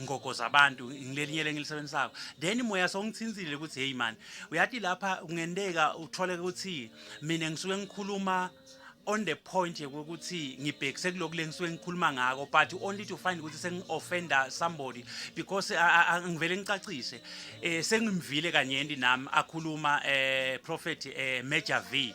ngogo zabantu ngilelinye lengilisebenzisako then moya songithinzile ukuthi hey man uyathi lapha kungenteka uthole ukuthi mina ngisuke ngikhuluma on the point yokuthi ngibhekise kuloko lengisuke ngikhuluma ngako but only to find ukuthi sengi-offenda somebody because ngivele ngicacise um sengimvile kanyenti nami akhuluma um prophet um major v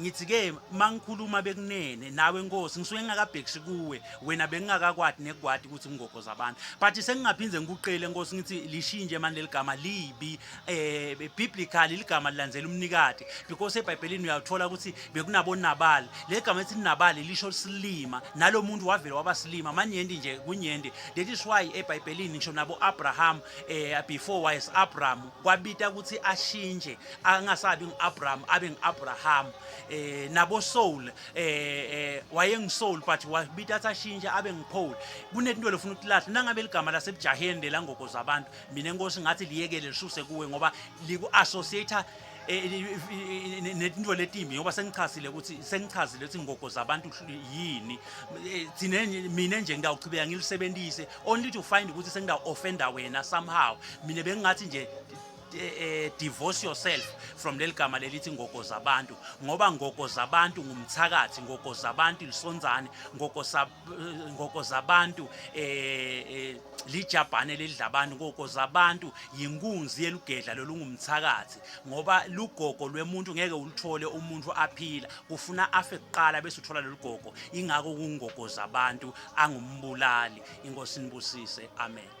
ngithi ke mangikhuluma bekunene nawe nkosi ngisuke ngingakabhekisi kuwe wena bengingakakwadi nekwadi ukuthi ngingoghoza abantu but sengingaphinde ngikuqele nkosi ngithi lishinje manje leligama libi eh biblical iligama lilandzela umnikati because eBhayibhelini uyathola ukuthi bekunabo nabali legama ethi nabali lisho silima nalomuntu wavela waba silima manyendi nje kunyendi that is why eBhayibhelini ngisho nabo Abraham eh before wise Abraham kwabita ukuthi ashinje angasabi ngu-abraham abe ngu-abraham eh nabo soul eh, eh wayengisoul but wabita athashintshe abe ngiphole kunento lofuna ukuthi lahle nangabe ligama lasebujaheni lela ngoko zabantu mina inkosi ngathi liyekele lisuse kuwe ngoba liku associate eh, netinto letimbi ngoba sengichazile ukuthi sengichazile ukuthi ngogo zabantu yini eh, thina mina nje ngiyawuchibeka ngilisebenzise only to find ukuthi sengidawu offender wena somehow mina bengingathi nje eh, divorce yourself from leli gama lelithi ngoko zabantu ngoba ngoko zabantu ngumthakathi ngoko zabantu lisonzane ngoko sa eh, ngoko zabantu eh, eh lijabhane lelidla abantu ngoko zabantu yinkunzi yelugedla lolungumthakathi ngoba lugogo lwemuntu ngeke uluthole umuntu aphila kufuna afe kuqala bese uthola lolugogo ingako kungoko zabantu angumbulali inkosi nibusise amen